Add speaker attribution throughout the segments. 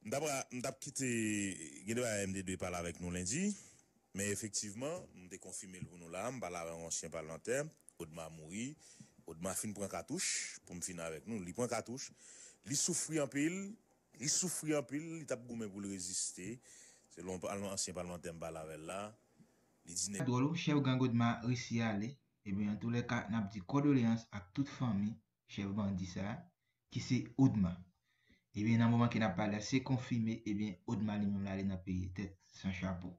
Speaker 1: M ta pra, m tap kite, gen de bagay m te dwe pale avèk nou lendi, men efektivman, m te konfime l pou nou la a, m pale avè yon ansyen palmantè, Odma mouri, Odma fin pran katouch, pou m fini avèk nou, li pran katouch, li soufri anpil, li soufri anpil, li tap goumen pou l reziste, selon yon ansyen palmantè m pale avè l la, li di nèg. Sa dwòl wi, chèf gang Odma
Speaker 2: resi ale, ebyen antoulèka nap di kòdoleyans ak tout fanmi chèf bandi sa a, ki se Odma. Ebyen nan moman ke n ap pale a, se konfime ebyen Odma li menm li ale nan peye tèt san chapo.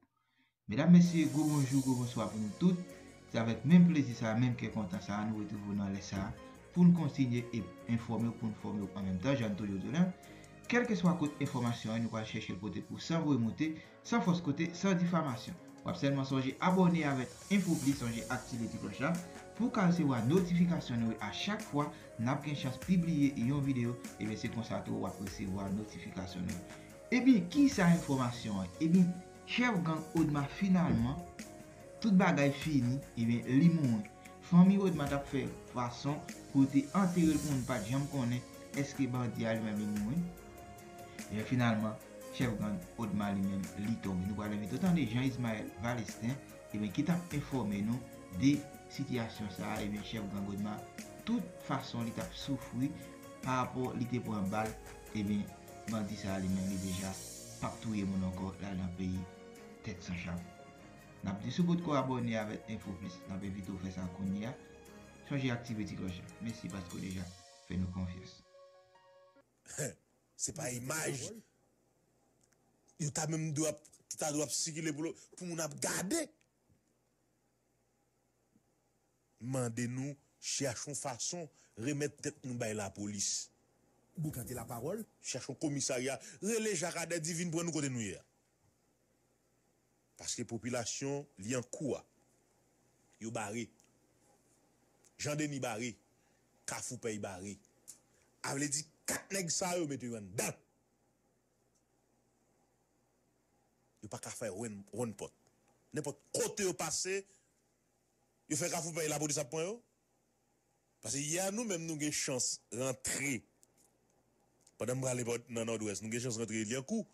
Speaker 2: Medam, mesye, gwo bonjou, gwo bonswa pou nou tout. Se avèk menm plezi sa a, menm kè kontan sa a nou retrouve w nan lè sa a pou n kontinye ep enfòme w, pou n fòme w an menm tan jan n toujou di w la, kèlkeswa kot enfòmasyon an, nou pral chèche l pote pou w san voye moute. san fos kote san difamasyon wap selman sonje abòne avèk infoubli sonje aktive ti kloch la pouw ka resevwa notifikasyon nou a chak fwa nap gen chans pibliye yon video ebyen se konsa tou wap resevwa notifikasyon nou yo ebyen kisa enfomasyon an ebyen chèf gang odma finalman tout bagay fini ebyen li mouri fanmi odma tap fè fason pou yo te anterel pou moun pat janm konnen eske bandi a li menm li mouri. Ebyen finalman chèf gang Odma li menm li tonbe. Nou pral envite w tande Jean Ismael Valestin ebyen ki tap enfòme nou de sitiyasyon sa a ebyen chèf gang Odma tout fason li tap soufri pa rapò li te pran bal ebyen bandi sa a li menm li deja pap touye moun ankò lal nan peyi tèt san chapo. Nap di si w potko abòne avèk Info Plus nap envite w fè sa kounye a, chonje aktive ti klòch la. Mesi paske w deja fè nou konfyans.
Speaker 1: Se pa imaj yo ta menm dwe ap, ki ta dwe ap sikile pou moun ap gade. M mande nou chèche yon fason remèt tèt nou bay lapolis. Boukan te la
Speaker 3: pawòl. Chèche yon komisarya,
Speaker 1: rele Jakadè di vin pran nou kote nou ye a. Paske popilasyon Lyankou a yo bare. Jan Deni bare. Kafou Pèy bare. A vle di 4 nèg sa yo mete yo anndan. Yo pa ka fè wonn pòt. Nenpòt kote yo pase yo fè Kafou Pèy lapòlis ap pran yo. Pase yè a nou menm nou gen chans rantre pandan m prale nan Nòdwès nou gen chans rantre Lyankou.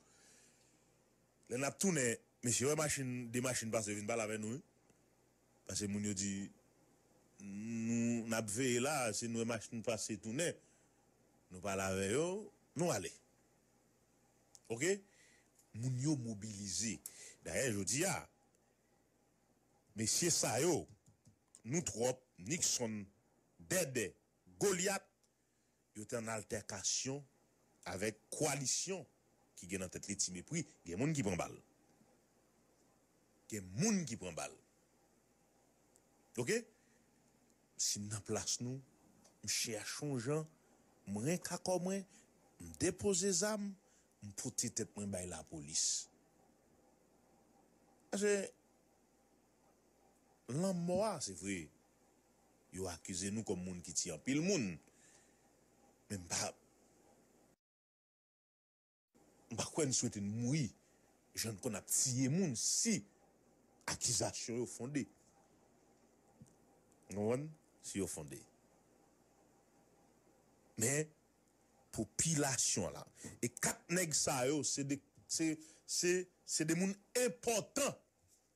Speaker 1: Lè n ap tounen mesye wè machin 2 machin pase yo vin pale avè nou wi. Pase moun yo di nou n ap veye la a si n wè machin pase tounen nou pale avè yo nou ale ok. Moun yo mobilize dayè jodi a mesye sa yo. Nou trop Nixon bèbè Goliath yo te an altèkasyon avèk koalisyon ki gen nan tèt li ti mepri gen moun ki pran bal gen moun ki pran bal ok sim nan plas nou m chèch yon jan m renk a kò mwen m depoze zam m pote tèt mwen bay lapolis paske. lanmò a, se vre yo akize nou kòm moun ki tiye anpil moun, men m pa m pa kwè n swete n mouri jan n konn ap tiye moun si akizasyon yo fonde. Ou konprann? Si yo fonde. Men, popilasyon an la, e 4 nèg sa yo se de se se se de moun enpòtan.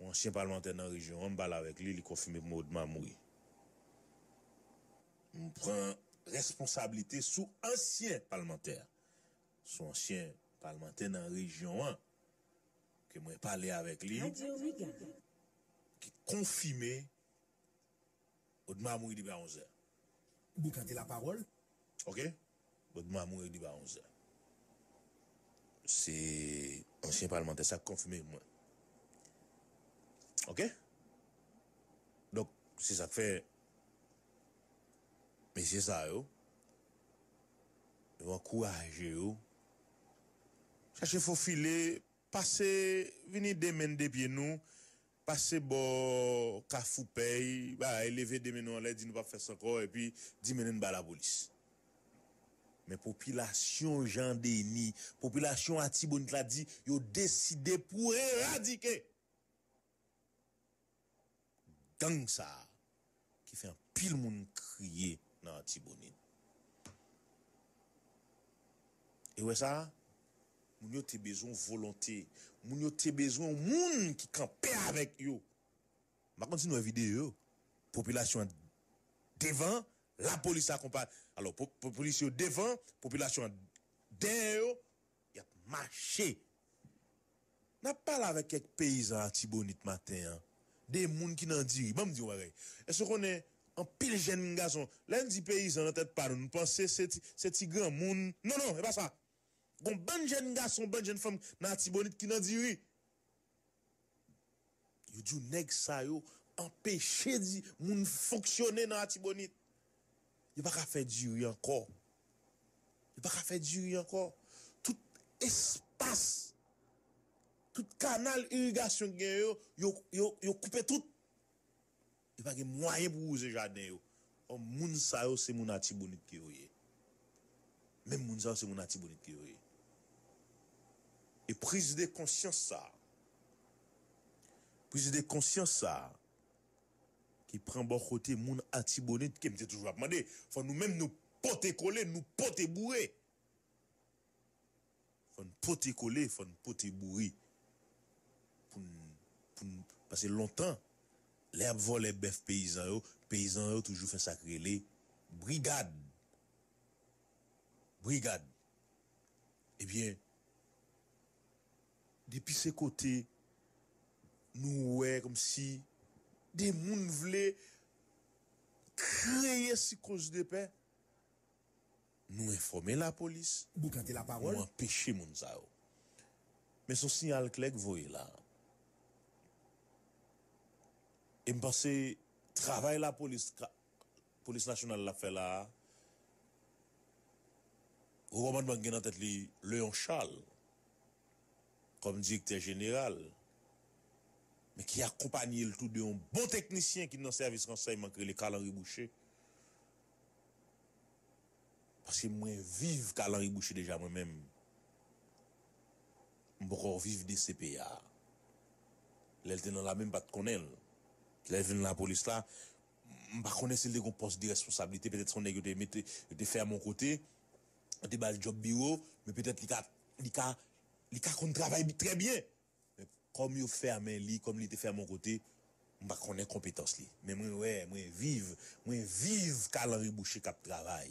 Speaker 1: Yon ansyen palmantè nan rejyon an, m pale avèk li, li konfime pou mwen Odma mouri. M pran responsablite sou ansyen palmantè a. Sou ansyen palmantè nan rejyon an ke mwen pale avèk li, ki konfime. Odma mouri depi a 11 è.
Speaker 3: Boukante la pawòl. Ok.
Speaker 1: Odma mouri depi a 11 è. Se ansyen palmantè sa k konfime pou mwen. Ok. Donk, se sa k fè mesye sa yo, yo ankouraje yo chache fofile. Pase vini de men de pye nou pase bò kafou pèy bagay leve de men nou anlè di nou pap fès ankò epi di mennen n ba lapolis men popilasyon Jean Denis popilasyon Atibonit la di yo deside pou eradike gang sa ki fè anpil moun kriye nan Artibonite. E wè sa? Moun yo te bezwen yon volonte. Moun yo te bezwen yon moun ki kanpe avèk yo. M pa konn si nou wè videyo yo. Popilasyon an devan, lapolis akonpaye. Alò, polisye yo devan, popilasyon an dèyè yo, y ap mache. N ap pale avèk kèk peyizan Atibonit maten an de moun ki nan diri. Ban m di yon bagay, èske w konnen anpil jenn gason, lè n di peyizan nan tèt pa nou, nou panse se ti granmoun, non non e pa sa. Gon bann jenn gason, bann jenn fanm nan Atibonit ki nan diri. Yo di w nèg sa yo anpeche di moun fonksyone nan Atibonit. Yo pa ka fè diri ankò. Yo pa ka fè diri ankò. Tout espas, tout kanal irigasyon ki gen yo, yo koupe tout. Yo pa gen mwayen pou wouze jaden yo. Ò moun sa yo se moun Atibonit ke yo ye. Menm moun sa yo se moun Atibonit ke yo ye. E priz de konsyans sa a, priz de konsyans sa a ki pran bò kote moun Atibonit ke m te toujou ap mande fò nou menm nou pote kole, nou pote boure. Fò n pote kole, fò n pote boure pou n pou n pase lontan lè y ap vòlè bèf peyizan yo, peyizan yo toujou fè sa k rele brigad brigad ebyen depi se kote nou wè kòmsi de moun vle kreye sikonzdepè. Nou enfòme lapolis, Boukante la nou pawòl.
Speaker 3: anpeche moun sa
Speaker 1: yo. Men son siyal klè k voye la. E m panse travay lapolis k Polis Nasyonal la fè la a, Wo Kòmandman k gen nan tèt li Leon Charles kòm Direktè Jeneral, men ki akonpanye l tou de yon bon teknisyen ki nan sèvis ransèyman k rele Carl Henry Boucher, Paske mwen viv ka lanri bouche deja mwen menm m poko viv DCP a lèl te nan lame m pat konnenl lèl vin lapolis la m pa konnen sil te gon pòs de responsablite petèt son nèg yo te mete yo te fèm yon kote yo te bal djòb biwo men petèt li ka li ka li ka konn travay trè byen. Men kòm yo fèmen li, kòm li te fèmen yon kote, m pa konnen konpetans li. Men mwen wè, mwen viv, mwen viv kalanri bouche k ap travay.